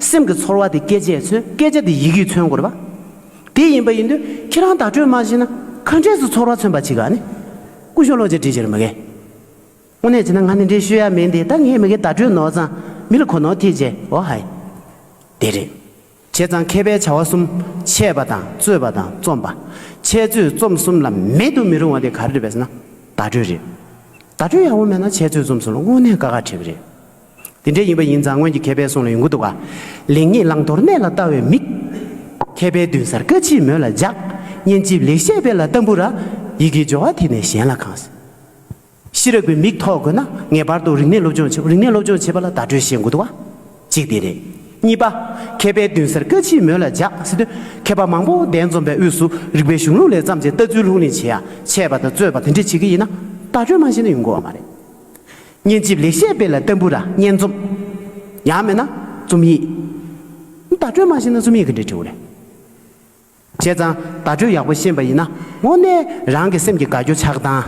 སེམས་ཀྱི་ཚོར་བ་དེ་སྐད་ཆས་མཚོན་སྐད་ཆ་དེ་ཡི་གེས་མཚོན་དགོས་པ་དེ་ཡིན་པ་ཡིན་དུས་ཁྱེད་རང་བརྡ་སྤྲོད་མ་བྱས་ན་ག་འདྲས་སུ་ཚོར་བ་མཚོན་པ་ཅི་ག་ནི། སྐུ་གཞོན་བློ་རྗེ་བཀྲིས་བྱས་ནས་མི་གས། དངོས་གནས་བྱས་ན་ང་ནི་འདྲེ་ཤོད་ཡ་མིན་ཏེ་ད་ངས་མི་གས་བརྡ་སྤྲོད་ནོར་ཙང་མི་ལ་གོ་ནོར་ཐེབས་ཀྱི་འོ་ཧའི། དེ་རེད། བྱས་ཙང་མཁས་པའི་བྱ་བ་གསུམ་འཆད་པ་དང་རྩོད་པ་དང་རྩོམ་པ། འཆད་རྩོད་རྩོམ་གསུམ་ལ་མེད་དུ་མི་རུང་བ་དེ་ག་རེ་རེད་པས་ན་བརྡ་སྤྲོད་རེད། བརྡ་སྤྲོད་ཡག་པོ་མེད་ན་འཆད་རྩོད་རྩོམ་གསུམ་ལ་དངོས་གནས་དཀའ་ཁག་འཕྲད་གི་རེད། དེ་འདྲའི་ཡིན་པ་ཡིན་ཙང་སྔོན་གྱི་མཁས་པའི་གསུང་ལ་ཡོང་གི་འདུག་ག། ལེགས་ཉེས་བླང་དོར་གནད་ལ་ལྟ་བའི་མིག། མཁས་པའི་མདུན་སར་བཀའ་མཆིད་མོད་ལ་འཇགས། སྙན་འཇེབས་ལེགས་བཤད་དཔེ་ལ་ལྟ་འབུར་ར། ཡི་གེའི་སྦྱོར་བ་དེ་ནས་གཞན་ལ་གང། ཤེས་རབ་ཀྱི་མིག་ཐོགས་དགོས་ན་ངེས་པར་དུ་རིག་གནས་སློབ་སྦྱོང་བྱེད་དགོས་རིག་གནས་སློབ་སྦྱོང་བྱེད་པ་ལ་བརྡ་སྤྲོད་ཤེས་དགོས་འདུག་ག། གཅིག་དེ་རེད། གཉིས་པ། མཁས་པའི་མདུན་སར་བཀའ་མཆིད་མོད་ལ་འཇགས་ཟེར་དུས། མཁས་པ་མང་པོ་གདན་འཛོམས་པའི་དབུས་སུ་རིག་པའི་གཞུང་ལུགས་ལས་བརྩམས་ཏེ་ལྟ་ཚུལ་ལྷུག་གླེང་བྱེད་ཡ་ཆད་པ་དང་རྩོད་པ་དེ་འདྲས་བྱེད་ཀྱི་ཡིན་ན། བརྡ་སྤྲོད་མ་བྱས་ན་ཡོང་དགོས་བ་མ་རེད། སྙན་འཇེབས་ལེགས་བཤད་དཔེ་ལ་ལྟ་འབུར་ར་སྙན་རྩོམ། ཡང་མེད་ན་རྩོམ་ཡིག། བརྡ་སྤྲོད་མ་ཤེས་ན་རྩོམ་ཡིག་གི་འདྲི་དྲི་བོ་རེད། བྱས་ཙང་བརྡ་སྤྲོད་ཡག་པོ་ཤེས་པ་ཡིན་ན་དངོས་གནས་རང་གི་སེམས་ཀྱི་དགའ་སྐྱོ་ཆགས་སྡང།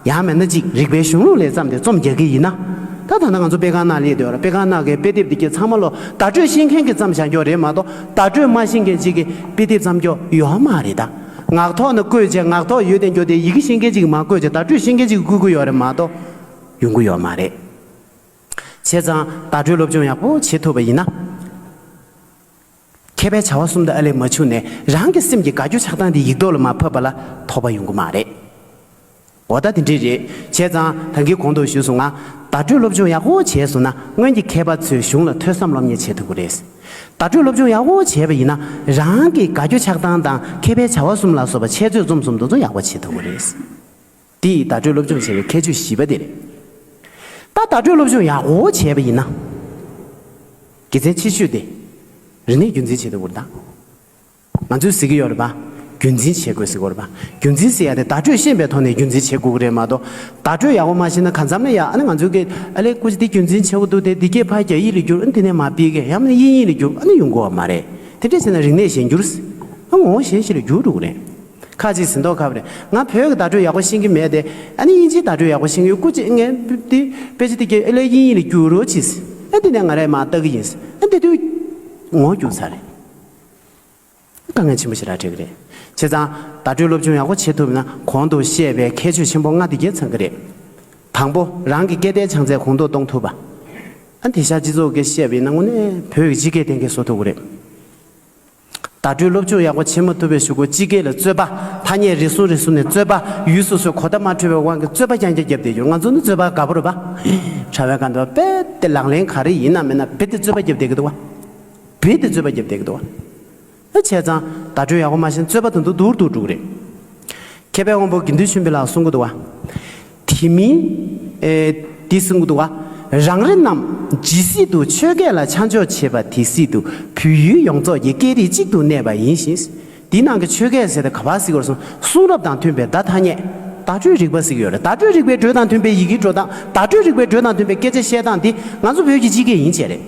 ཡང་མེད་ན་ཅིག་རིག་པའི་གཞུང་ལུགས་ལས་བརྩམས་ཏེ་རྩོམ་རྒྱག་གི་ཡིན་ན། ད་ད་ནངས་ཚོ་དཔེ་ཁང་ནང་སླེབས་དུས་དཔེ་ཁང་ནང་གི་དཔེ་དེབ་འདི་ཀྱི་ཚང་མ་ལོ་བརྡ་སྤྲོད་ཤེས་མཁན་གྱིས་བརྩམས་བཞག་རྒྱོ་རེད་མ་གཏོགས་བརྡ་སྤྲོད་མ་ཤེས་མཁན་ཅིག་གིས་དཔེ་དེབ་བརྩམས་རྒྱོ་ཡོའོ་མ་རེད་ད། ངག་ཐོག་ན་བཀོད་བྱས་ངག་ཐོག་ཡོད་དེ་འགྱོ་དེ་ཡི་གེ་ཤེས་མཁན་ཅིག་གིས་མ་བཀོད་བྱས་བརྡ་སྤྲོད་ཤེས་མཁན་ཅིག་གིས་བཀོད་གི་ཡོ་རེད་མ་གཏོགས། ཡོང་གི་ཡོད་མ་རེད། བྱས་ཙང་བརྡ་སྤྲོད་སློབ་སྦྱོང་ཡག་པོ་བྱེད་ཐུབ་པ་ཡིན་ན། མཁས་པའི་བྱ་བ་གསུམ་དུ་ཨ་ལས་མ་འཕྱུགས་ནས་རང་གི་སེམས་ཀྱི་དགའ་སྐྱོ་ཆགས་སྡང་དེ་ཡིག་ཐོག་ལ་མ་ཕབ་པ་ལ་དོགས་པ་ཡོང་གི་མ་རེད། འོ་ད་དེ་འདྲས་རེད། བྱས་ཙང་ད་གི་གོང་དུ་ཞུས་སོང་ང། བརྡ་སྤྲོད་སློབ་སྦྱོང་ཡག་པོ་བྱས་སོང་ན་སྔོན་གྱི་མཁས་པ་ཚོས་གཞུང་ལ་ཐོས་བསམ་སློབ་གཉེར་བྱེད་ཐུབ་ཀྱི་རེད། བརྡ་སྤྲོད་སློབ་སྦྱོང་ཡག་པོ་བྱས་པ་ཡིན་ན་རང་གི་དགའ་སྐྱོ་ཆགས་སྡང་དང་མཁས་པའི་བྱ་བ་གསུམ་ལ་སོགས་པ་འཆད་རྩོད་རྩོམ་གསུམ་འདུ་འཛོམས་ཡག་པོ་བྱེད་ཐུབ་ཀྱི་རེད། འདི་ཡིས་བརྡ་སྤྲོད་སློབ་སྦྱོང་བྱེད་པའི་ཁྱད་ཆོས་བཞི་པ་དེ་རེད། ད་བརྡ་སྤྲོད་སློབ་སྦྱོང་ཡག་པོ་བྱས་པ་ཡིན་ན། དགེ་མཚན་ཆེ་ཤོས་དེ། རིག་གནས་རྒྱུན་འཛིན་བྱེད་ཐུབ་པར་གདའ། ང་ཚོས་གཟིགས་ཀྱི་ཡོད་རེད་པ། རྒྱུན་འཛིན་བྱེད་དགོས་གཟིགས་དགོས་རེད་པ། རྒྱུན་འཛིན་བྱེད་ཡག་དེ་བརྡ་སྤྲོད་ཤེས་པའི་ཐོག་ནས་རྒྱུན་འཛིན་བྱེད་དགོས་ཀྱི་རེད་མ་གཏོགས། བརྡ་སྤྲོད་ཡག་པོ་མ་ཤེས་ན་གང་འཚམ་ལས་ཡག་ཨ་ནི་ང་ཚོས་ཀྱིས་ཨ་ལས་ཀུ་ཅི་འདི་རྒྱུན་འཛིན་བྱེད་དགོས་འདུག་དེ་འདི་སྐད་ཕར་རྒྱག་ཡིག་ལས་བསྒྱུར་ཨ་ནི་དེ་ནས་མ་སྤེལ་གི་ཡང་ན་དབྱིན་ཡིག་ལས་བསྒྱུར་ཨ་ནི་ཡོང་དགོས་བ་མ་རེད། དེ་འདྲས་བྱས་ན་རིག་གནས་གཞན་འགྱུར། ངོ་བོ་གཞན་ཞིག་ལ་འགྱུར་འགྲོ་གི་རེད། ཁ་ཅིག་ཟིན་ཐོག་ཁབ་རེད་ང་བོད་ཀྱི་བརྡ་སྤྲོད་ཡག་པོ་ཤེས་ཀྱི་མེད་དེ། ཨ་ནི་དབྱིན་ཇིའི་བརྡ་སྤྲོད་ཡག་པོ་ཤེས་ཀྱི་ཡོད་སྐུ་ཅི་ཨེ་ངན། དེ་པེ་ཅི་ཏི་ཀྱེ་ཨེ་ལས་དབྱིན་ཡིག་ལ་བསྒྱུར་རོགས་གྱིས། ཨེ་འདི་ནས་ང་རས་མ་བལྟ་གི་ཡིན། ཨེ་འདི་དུས་ངོ་རྒྱུགས་ཚར་རེད། དཀའ་ངལ་ཆེན་པོ་ཞིག་ར་འཕྲད་གི་རེད། བྱས་ཙང་བརྡ་སྤྲོད་སློབ་སྦྱོང་ཡག་པོ་བྱེད་ཐུབ་ན་གོང་དུ་བཤད་པའི་ཁྱད་ཆོས་ཆེན་པོ་ལྔ་འདི་རྒྱལ་ཚང་གི་རེད། དང་པོ་རང་གི་སྐད་བརྡའི་བྱང་ཚད་གོང་མཐོར་གཏོང་ཐུབ་པ། ཨ་དེ་ཤར་སྤྱི་ཚོགས་སྐད་བཤད་པའི་སྣང་ངོ་ནས་བོད་ཀྱི་སྤྱི་སྐད་གཏན་འཁེལ་བཟོ་ཐུབ་གི་རེད། བརྡ་སྤྲོད་སློབ་སྦྱོང་ཡག་པོ་བྱེད་མ་ཐུབ་པའི་ཞུ་སྒོ་སྤྱི་སྐད་ལ་རྩོད་པ། ཐ་སྙད་རེ་ཟུང་རེ་ཟུང་ནས་རྩོད་པ། ཡུལ་སོ་སོའི་གོ་བརྡ་མ་འཕྲོད་པའི་དབང་གིས་རྩོད་པ་རྐྱང་རྐྱང་བརྒྱབ་བསྡད་ཡོད་ང་ཚོ་ནི་རྩོད་པ་དགའ་པོ་རེད་པ། དྲ་བའི་ག་འདི་བ་རྦད་དེ་ལག་ལེན་ག་རེ་ཡིན་ན་མིན་ན་རྦད་དེ་རྩོད་པ་བརྒྱབ་བསྡད་གི་འདུག་བ། རྦད་དེ་རྩོད་པ་བརྒྱབ་བསྡད་གི་འདུག་བ། ཨ་བྱས་ཙང་བརྡ་སྤྲོད་ཡག་པོ་མ་བྱས་ན་རྩོད་པ་དང་དུ་དུར་དུར་འགྲོ་གི་རེད། མཁས་པའི་དབང་པོ་དགེ་འདུན་ཆོས་འཕེལ་ལགས་གསུང་གི་འདུག་བ། དེ་མིན། དེ་གསུང་གི་འདུག་ག། རང་རེ་རྣམས་ཇི་སྲིད་དུ་ཆོས་སྐད་ལ་ཆ་འཇོག་བྱེད་པ་དེ་སྲིད་དུ་བོད་ཡུལ་ཡོངས་རྫོགས་ཀྱི་སྐད་རིགས་གཅིག་ཏུ་གནས་པ་ཡིན་ཞིང། དེའི་ནང་གི་ཆོས་སྐད་ཟེར་ཏེ་ག་བར་གཟིགས་པར་སོང་གསུང་རབ་དང་མཐུན་པའི་བརྡ་ཐ་སྙད། བརྡ་སྤྲོད་རིག་པ་ཟིག་ཡོད་རེད་བརྡ་སྤྲོད་རིག་པའི་འགྲོས་དང་མཐུན་པའི་ཡི་གེའི་འགྲོ་སྟངས་བརྡ་སྤྲོད་རིག་པའི་འགྲོས་དང་མཐུན་པའི་སྐད་ཆ་བཤད་སྟངས་འདི་ང་ཚོ་བོད་ཀྱི་སྤྱི་སྐད་ཡིན་ཆེད་རེད།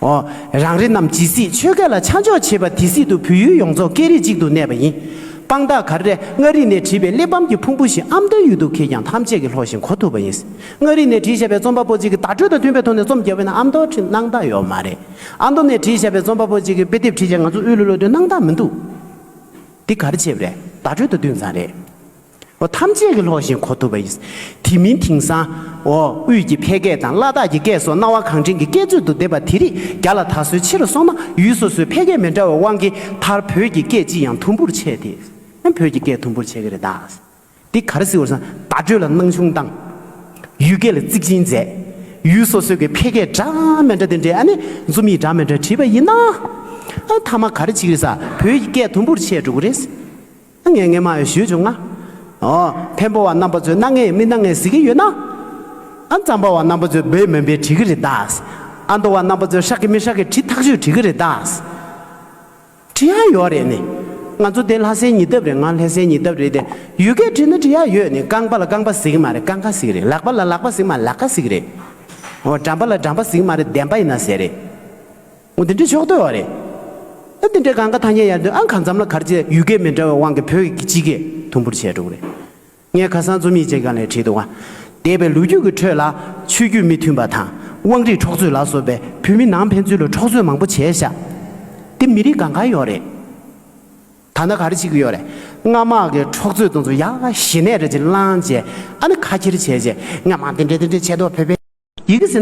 ཨོ། རང་རེ་རྣམས་ཇི་སྲིད་ཆོས་སྐད་ལ་ཆ་འཇོག་བྱེད་པ་དེ་སྲིད་དུ་བོད་ཡུལ་ཡོངས་རྫོགས་སྐད་རིགས་གཅིག་ཏུ་གནས་པ་ཡིན། དཔང་རྟགས་གར་རེ་མངའ་རིས་ནས་བྲིས་པའི་གླེགས་བམ་གྱི་ཕུང་པོ་ཞིག་ཨམ་མདོའི་ཡུལ་དུ་འཁེལ་ཀྱང་ཐམས་ཅད་ཀྱིས་ལྷོགས་ཤིང་གོ་ཐུབ་པ་ཡིན། མངའ་རིས་ནས་བྲིས་བཞག་པའི་རྩོམ་པ་པོ་ཅིག་གིས་བརྡ་སྤྲོད་དང་མཐུན་པའི་ཐོག་ནས་རྩོམ་རྒྱག་འོས་ན་ཨམ་མདོར་བྲིས་སྣང་དག་ཡོད་མ་རེད། ཨ་མདོ་ནས་བྲིས་བཞག་པའི་རྩོམ་པ་པོ་ཅིག་གིས་དཔེ་དེབ་བྲིས་ཀྱང་ང་ཚོ་དབུས་ལུགས་ལོ་དོན་སྣང་དག་མི་འདུག། འདི་གར་ཆེ་བ་རེད་བརྡ་སྤྲོད་དུ་འདུས་ཙང་རེད། བ་ཐམས་ཅད་ཀྱིས་ལྷོགས་བཞིན་གོ་ཐུབ་པ་ཡིན། དེ་མིན་དེང་སང། འོ་དབུས་ཀྱི་ཕལ་སྐད་དང་བླ་དྭགས་ཀྱི་སྐད་སོགས་སྣང་བ་གང་དྲན་གྱི་སྐད་ཚོད་དུ་བསྡེབས་པ་དེ་རིགས་རྒྱ་ལ་ད་གཟོད་ཆེ་རུ་སོང་ན་ཡུལ་སོ་སོའི་ཕལ་སྐད་མི་འདྲ་བའི་དབང་གིས་མཐར་བོད་ཀྱི་སྐད་ཅིག་ཡང་དུམ་བུར་ཆད་དེ། ཡང་བོད་ཀྱི་སྐད་དུམ་བུར་ཆད་ཀྱི་རེད་གདའ། འདི་ག་རེ་སྲིད་འོར་སངས་བརྡ་སྤྲོད་ལ་སྣང་ཆུང་བཏང། ཡུལ་སྐད་ལ་གཙིགས་ཆེན་མཛད། ཡུལ་སོ་སོའི་ཀྱི་ཕལ་སྐད་སྒྲ་མི་འདྲ་དེ་འདྲའི་ཨ་ནི་རྩོམ་ཡིག་སྒྲ་མི་འདྲ་བྲིས་པ་ཡིན་ན། ཨ་མཐའ་མ་ག་རེ་ཆིག་རེད་ས་བོད་ཀྱི་སྐད་དུམ་བུར་ཆད་འགྲོ་གི་རེད། སྣ་ལྔའི་ངན་མ་ཡང་ཞུས་བྱུང་ང། བེམ་པོ་བ་རྣམ་པ་ཚོས་སྣ་ལྔའི་མི་སྣ་ལྔས་གཟིགས་ཀྱི་ཡོད་ན། ཨ་འཛམ་པ་བ་རྣམ་པ་ཚོས་འབོད་མོན་པའི་བྲིས་ཀྱི་རེད་ད། ཨ་མདོ་བ་རྣམ་པ་ཚོས་ཧྲག་གི་མི་ཧྲག་གི་བྲིས་ཐག་ཆོད་བྲིས་ཀྱི་རེད་ད། བྲིས་ཡག་ཡོད་རེད་ནི། ང་ཚོ་དེ་ལྷ་སའི་ཉིས་ལྡབ་རེད་ང་ལྷས་སའི་ཉིས་ལྡབ་རེད་དེ། ཡུལ་སྐད་བྲིས་ན་བྲིས་ཡག་ཡོད་ནི་རྐང་པ་ལ་རྐང་པ་གཟིགས་ཀྱི་མ་རེད་རྐང་ཁ་གཟིགས་རེད་ལག་པ་ལ་ལག་པ་གཟིགས་མ་ལག་ཁ་གཟིགས་རེད། འོ་འགྲམ་པ་ལ་འགྲམ་པ་གཟིགས་མ་རེད་བདེན་པ་ཡིན་ན་ཟེར་རེད། ངོ་འདི་འདྲའི་ཕྱོགས་བསྡོད་བ་རེད། ཨ་འདི་འདྲའི་གང་ག་ཐ་སྙད་ཡར་འདོན་ཨང་གང་འཛམ་ལ་གར་བཅས་ཡུལ་སྐད་མི་འདྲ་བའི་དབང་གིས་བོད་ཡིག་གི་སྤྱི་སྐད་དུམ་བུར་བྱས་འགྲོ་གི་རེད། ངས་ཁ་སང་རྩོམ་ཡིག་ཅིག་གང་ལས་བྲིས་འདུག་ཨ་འདས་པའི་ལོ་རྒྱུས་ཀྱི་ཁྲོད་ལ་ཆོས་བརྒྱུད་མི་མཐུན་པ་དང་དབང་རིས་འཕྲོག་རྩོད་ལ་སོགས་པའི་བོད་མི་ནང་ཕན་ཚུན་ལ་འཕྲོག་རྩོད་མང་པོ་བྱས་བཞག་དེ་མི་རིགས་གང་ག་ཡོད་རེད། ད་ནི་ག་རེ་བྱེད་ཀྱི་ཡོད་རེད། སྔར་དམག་གི་འཕྲོག་རྩོད་གཏོང་ཚུལ་ཡག་ཞི་གནས་རེད་ཅེས་བསླངས་རྗེས་ཨ་ནི་ཁ་འཁྱེར་བྱས་རྗེས་ངས་མང་འདི་འདྲའི་འདི་འདྲའི་བྱས་འདུག་བོད་པའི་ཡི་གེ་ཟེར་ན